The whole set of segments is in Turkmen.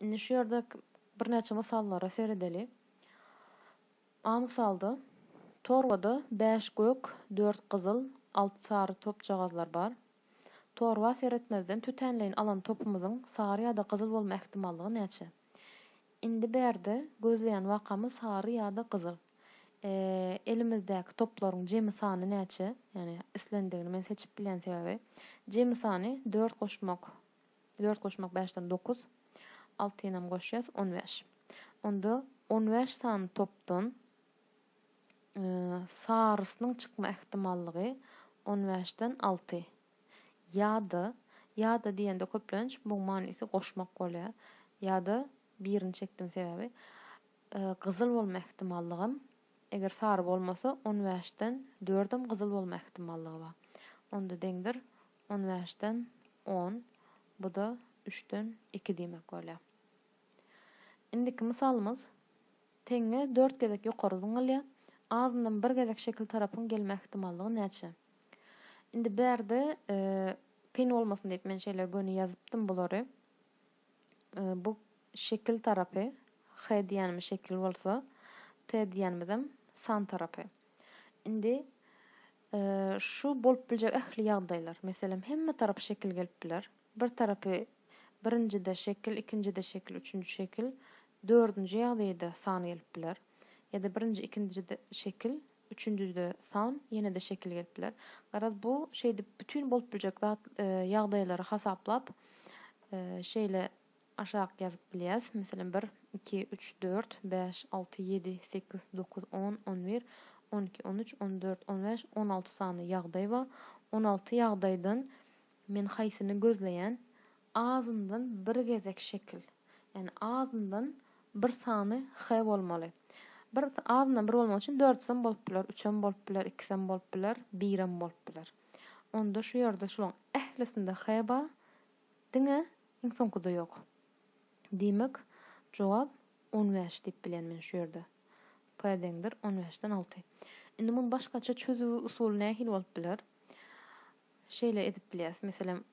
Indi şu ýerde birnäçe mysallara seredeli. A mysalda torbada bäş gök, dört gyzyl, alty sary topjagazlar bar. Torba seretmezden tötänleýin alan topumyzyň sary ýa-da gyzyl bolma ähtimallygy näçe? Indi bärde gözleýän wakamyz sary ýa-da gyzyl. Elimizdäki toplaryň jemi sany näçe? Ýagny islendigini men seçip bilýän sebäbi. Jemi sany dört goşmak. Dört goşmak bäşden dokuz. Altynyňam goşýas, on bäş. Onda on bäş sany topdan sarysynyň çykma ähtimallygy on bäşden alty. Ýa-da, ýa-da diýende köplenç muň manysy goşmak bolýar. Ýa-da birini çekdim sebäbi gyzyl bolma ähtimallygym, eger sary bolmasa, on bäşden dördem gyzyl bolma ähtimallygy bar. Onda deňdir On bäşden on, bu-da üçden iki diýmek bolýar. Indiki mysalymyz, teňňe dört gezek ýokary zyňylýar, azyndan bir gezek şekil tarapyň gelme ähtimallygy näçe? Indi bärde kyn bolmasyn diýip men şeýle göni ýazypdym bulary. Bu şekil tarapy, H diýenimiz şekil bolsa, T diýenimizem san tarapy. Indi Şu bolup biljek ähli ýagdaýlar, meselem, hemme tarap şekil gelip biler. Bir tarapy birinjide şekil, ikinjide şekil, üçünji şekil, dördünji ýagdaýda san gelip biler. Ýa-da birinji, ikindijide şekil, üçünjide san, ýene-de şekil gelip biler. Garaz, bu şeýdip bütin bolup biljek zat ýagdaýlary hasaplap, şeýle aşak ýazyp bilýäs, meselem, bir, iki, üç, dört, bäş, alty, ýedi, sekiz, dokuz, on, on bir, on iki, on üç, on dört, on bäş, on alty sany ýagdaý bar. On alty ýagdaýdan men haýsyny gözleýän? Azyndan bir gezek şekil, ýagny azyndan bir sany h bolmaly. Bir azyndan bir bolmak üçin dördsem bolup biler, üçem bolup biler, ikisem bolup biler, birem bolup biler. Onda şu ýerde şularyň ählisinde h bar, Diňe iň soňkuda ýok. Diýmek, jogap on bäş diýip bilýän men şu ýerde. P deňdir on bäşden alty. Indi muny başgaça çözüw usuly nähili bolup biler? Şeýle edip bilýäs. Meselem,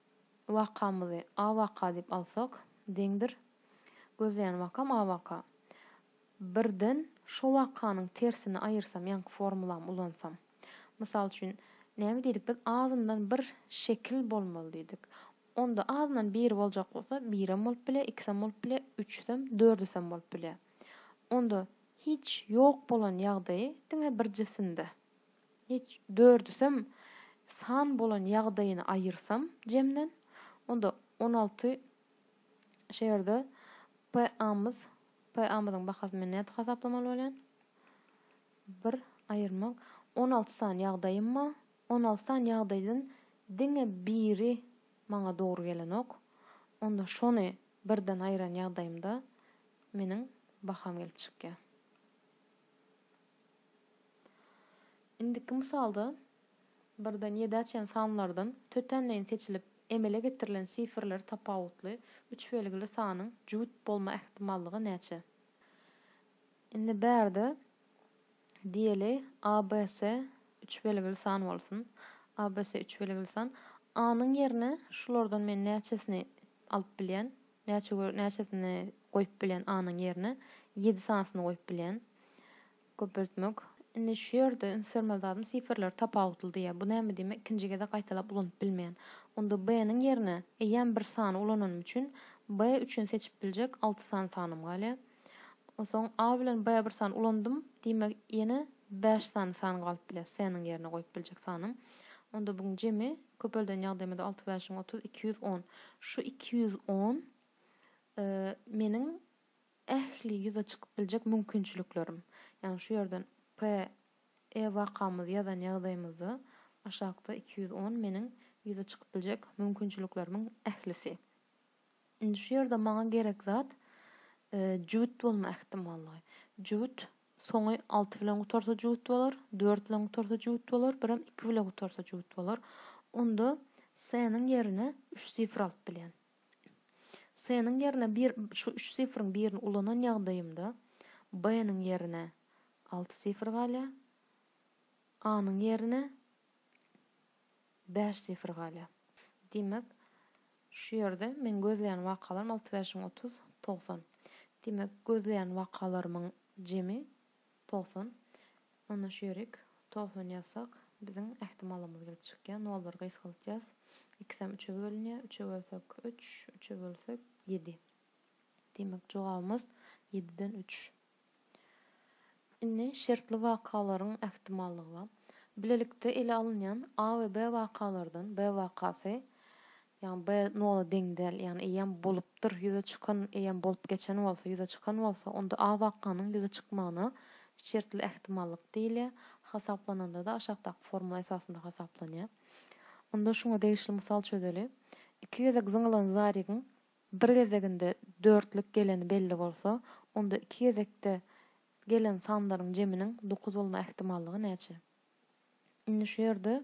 wakamyzy A waka diýip alsak, deňdir gözleýän wakam A waka. Birden şo wakanyň tersini aýyrsam, ýaňky formulamy ulansam. Mysal üçin, näme diýdik biz, azyndan bir şekil bolmaly diýdik. Onda azyndan biri boljak bolsa, birem bolup bilýär, ikisem bolup bilýär, üçüsem, dördüsem bolup bilýär. Onda hiç ýok bolan ýagdaýy diňe bir jisimde, hiç dördüsem san bolan ýagdaýyny aýyrsam jemden, onda on alty şu ýerde PA-myz PA-myzyň bahasyny nädip hasaplamaly bolýan? Bir aýyrmak on alty sany ýagdaýymma? On alty sany ýagdaýdan diňe biri maňa dogry gelenok. Onda şony birden aýyran ýagdaýymda meniň baham gelip çykýar. Indiki mysalda. Birden ýedä açan sanlardan tötänleýin seçilip emele getirilen sifrleri tapawutly üç belgili sanyň jübüt bolma ähtimallygy näçe? Indi bärde diýeli abc üç belgili san bolsun. Abc üç belgili san. A-nyň ýerine şulardan men näçesini alyp bilýän? Näçe näçesini goýup bilýän A-nyň ýerine? Ýedi sanysyny goýup bilýän. Köpeltmek. Indi şu ýerde ünsbermeli zadym sifrler tapawutly diýýär. Bu näme diýmek ikinji gezek gaýtalap ulanyp bilmeýän. Onda B-niň ýerine eýýäm bir sany ulananym üçin B üçin seçip biljek alty sany sanym galýar. Onsoň A bilen B bir sany ulandym, diýmek ýene bäş sany san galyp bilýär C-niň ýerine goýup biljek sanym. Onda buň jemi köpelden ýagdaýymyzda alty bäşiň otuz iki ýüz on. Şu iki ýüz on meniň Ähli ýüze çykyp biljek mümkinçiliklerim. Ýagny şu ýerden PE wakamyzy ýazan ýagdaýymyzda aşakda iki ýüz on meniň ýüze çykyp biljek mümkinçiliklerimiň ählisi. Indi şu ýerde maňa gerek zat jübüt bolma ähtimallygy. Jübüt soňy alty bilen gutarsa jübüt bolar, dört bilen gutarsa jübüt bolar, birem iki bile gutarsa jübüt bolar. Onda C-niň ýerine üç sifr alyp bilýän. S-niň ýerine bir şu üç sifriň birini ulanan ýagdaýymda B-niň ýerine alty sifr galýar, A-nyň ýerine bäş sifr galýar. Diýmek, şu ýerde meň gözleýän wakalarym alty bäşiň otuz, togsan. Diýmek, gözleýän wakalarymyň jemi Togsan. Onda şu ýerik. Togsan ýazsak, biziň ähtimalymyz gelip çykýar. Nollary gysgaltýas. Ikisem üçe bölünýär. Üçe bölsek, üç. Üçe bölsek, ýedi. Diýmek, jogabymyz ýediden üç. Indi şertli wakalaryň ähtimallygy bar. Bilelikde ele alynýan A we B wakalardan B wakasy Ýagny B nola deň däl. Ýagny eýýäm bolupdyr, ýüze çykan, eýýäm bolup geçen bolsa, ýüze çykan bolsa, onda A wakanyň ýüze çykmagyna şertli ähtimallyk diýilýär. Hasaplananda-da aşakdaky formula esasynda hasaplanýar. Onda şuňa degişli mysal çözeli. Iki gezek zyňylan zarygyň bir gezeginde dörtlük geleni belli bolsa, onda iki gezekde gelen sanlaryň jeminiň dokuz bolma ähtimallygy näçe? Indi şu ýerde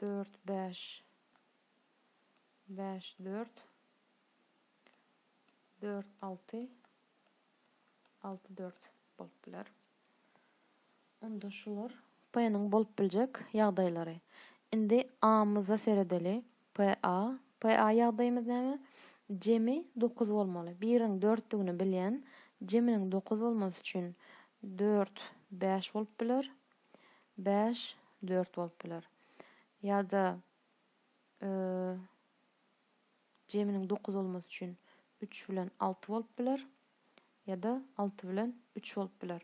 dört bäş bäş dört dört alty alty dört bolup biler. Onda şular p-niň bolup biljek ýagdaýlary. Indi a-myza seredeli. P-a. P-a ýagdaýymyz näme? Jemi dokuz bolmaly. Biriň dörtdügini bilýän. Jeminiň dokuz bolmasy üçin dört bäş bolup biler. bäş, dört bolup biler. Ýa-da jeminiň dokuz bolmasy üçin üç bilen alty bolup biler. Ýa-da alty bilen üç bolup biler.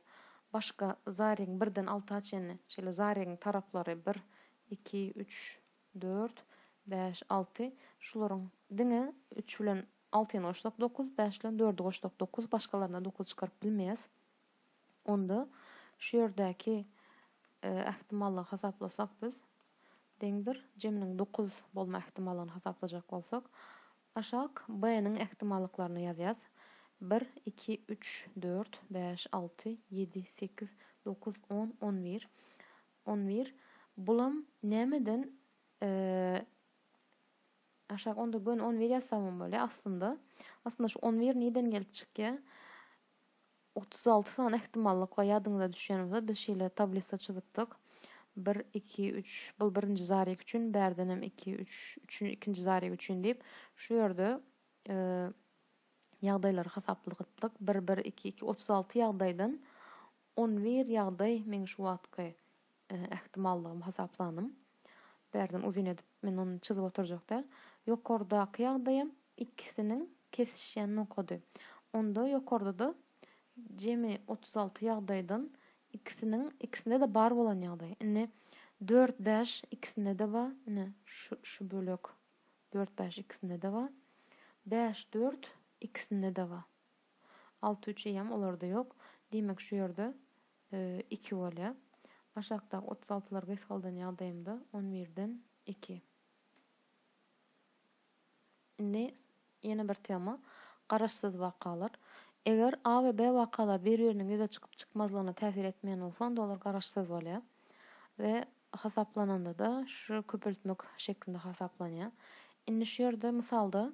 Başga zaregiň birden alta çenli şeýle zaregiň taraplary bir, iki, üç, dört, bäş, alty. Şularyň diňe üç bilen altyny goşsak dokuz, bäş bilen dördi goşsak dokuz, başgalaryna dokuz çykaryp bilmeýäs. Onda şu ýerdäki ähtimallygy hasaplasak biz deňdir jeminiň dokuz bolma ähtimallygyny hasaplajak bolsak, aşak B-niň ähtimallyklaryny ýazýas, bir, iki, üç, dört, bäş, alty, ýedi, sekiz, dokuz, on, on bir, on bir, bulam nämeden aşak onda göni on bir ýazsagam bolýar aslynda. Aslynda şu on bir nirden gelip çykýar? Otuz alty sany ähtimallyk bar. Ýadyňyza düşýän bolsa, biz şeýle tablisa çyzypdyk. Bir, iki, üç, bul birinji zarýek üçin, bärdenem iki, üç, üçin, ikinji zarýek üçin diýip, şu ýerde ýagdaýlary hasapladypdyk. Bir, bir, iki, iki, otuz alty ýagdaýdan on bir ýagdaý meň şu wagtky ähtimallygym hasaplandym. Bärden uzyn edip men ony çyzyp oturjak däl. Ýokardaky ýagdaýam ikisiniň kesişýän nokady. Onda ýokarda-da jemi otuz alty ýagdaýdan ikisiniň ikisinde-de bar bolan ýagdaý. Indi dört bäş ikisinde-de bar. Ine, şu şu bölek dört bäş ikisinde-de bar. Bäş dört ikisinde-de bar. Alty üç eýýäm olarda ýok. Diýmek, şu ýerde iki bolýar. Aşakdaky otuz altylary gysgaldan ýagdaýymda on birden iki. Indi ýene bir tema, garaşsyz wakalar. Eger A we B wakalary bir-biriniň ýüze çykyp-çykmazlygyna täsir etmeýän bolsa, onda olar garaşsyz bolýar we hasaplananda-da şu köpeltmek şeklinde hasaplanýar. Indi şu ýerde mysalda,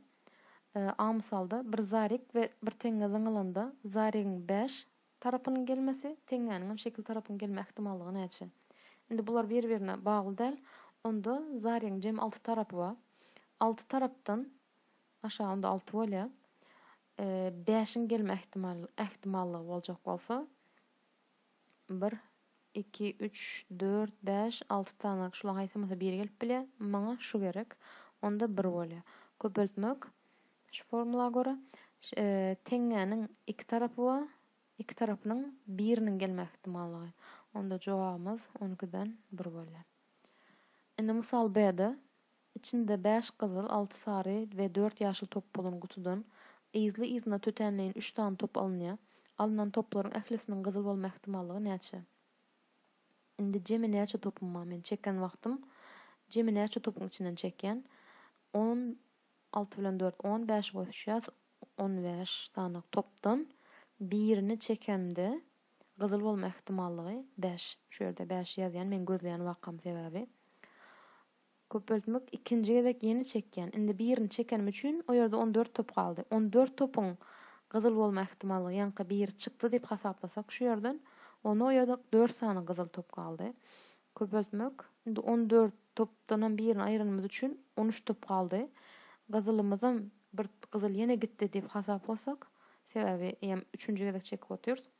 A mysalda bir zarik we bir teňňe zyňylanda zarigiň bäş, Tarapynyň gelmesi, teňňäniňem şekil tarapynyň gelme ähtimallygy näçe? Indi bular bir-birine bagly däl. Onda zarýaň jem alty tarapy bar. Alty tarapdan, aşa onda alty bolýa, bäşiň gelme ähtimallygy boljak bolsa, bir, Iki, üç, dört, bäş, alty tanak, şulaň haýsamysa biri gelip bilýär. Maňa şu gerek. Onda bir bolýar. Köpeltmek, şu formula görä, teňňäniň iki tarapy we iki tarapynyň biriniň gelme ähtimallygy. Onda jogabymyz on ikiden bir bolýar. Indi mysal B-de. Içinde bäş gyzyl, alty sary we dört ýaşyl top bolan gutudan yzly-yzyna tötänleýin üç sany top alynýar. Alnan toplaryň ählisiniň gyzyl bolma ähtimallygy näçe? Indi jemi näçe topum bar? Men çeken wagtym jemi näçe topuň içinden çekýän? On alty bilen dört, on bäşi goşýas, on bäş sany topdan birini çekemde gyzyl bolma ähtimallygy bäş. Şu ýerde bäşi ýazýan, meň gözleýän wakam sebäbi. Köpeltmek ikinji gezek ýene çekýän. Indi birini çekenim üçin o ýerde on dört top galdy. On dört topuň gyzyl bolma ähtimallygy ýaňky biri çykdy diýip hasaplasak şu ýerden, onda o ýerde dört sany gyzyl top galdy. Köpeltmek Indi on dört topdanam birini aýyranymyz üçin on üç top galdy. Gyzylymyzam bir gyzyl ýene gitdi diýip hasaplasak, sebäbi eýýäm üçünji gezek çekip otyrys.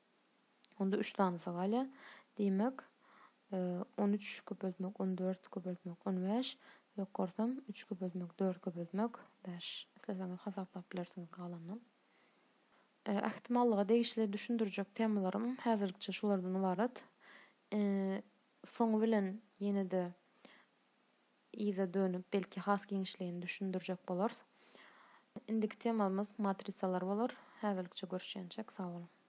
Onda üç sanysy galýar. Diýmek, on üç köpeltmek on dört köpeltmek on bäş. Ýok görsem, üç köpeltmek dört köpeltmek bäş. Isleseňiz hasaplap bilersiňiz galanynam. Ähtimallyga degişli düşündirjek temalarym häzirlikçe şulardan ybarat. Soňy bilen ýene-de yza dönüp, belki has giňişleýin düşündirjek bolarys. Indiki temamyz matrisalar bolar. Häzirlikçe görüşýänçäk, sag boluň!